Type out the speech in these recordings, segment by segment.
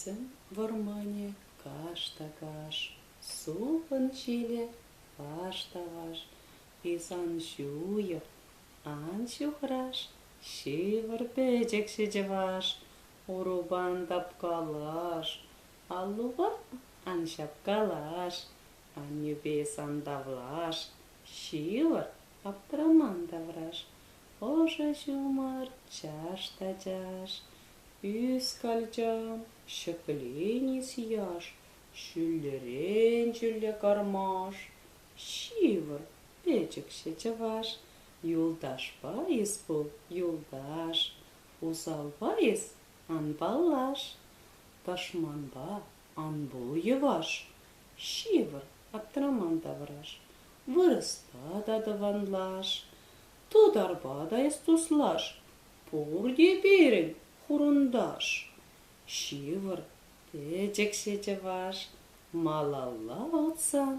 Сӗм вӑрманӗ каш та каш, сулхӑн ҫилӗ ваш та ваш. Пис ан ҫуйӑр, ан ҫухраш, ҫывӑр пӗчӗкҫӗ чӑваш. Урупан тапкалаш, аллупа ан ҫапкалаш, Аннӳпе сантавлаш, ҫывӑр, аптраман тавраш, ӑшӑ ҫумӑр, чаш та чаш, ӳскалчан, ҫӗкленис яш, ҫӳллӗрен-ҫӳлле кармаш, ҫывӑр, печӗкҫӗ чӑваш, юлташпа эс пул, юлташ, усалпа эс ан паллаш, тӑшманпа Ан пул, йӑваш, ҫывӑр, аптраман тавраш, вырӑсла та тӑванлаш, тутарпа та эс туслаш, пурте пирӗн хурӑнташ. Ҫывӑр, пӗчӗкҫӗ чӑваш, малалла утсан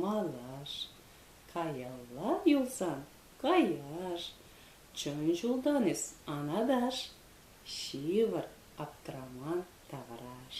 малаш, каялла юлсан каяш, чӑн ҫултан эс анаташ, Ҫывӑр, аптраман тавраш.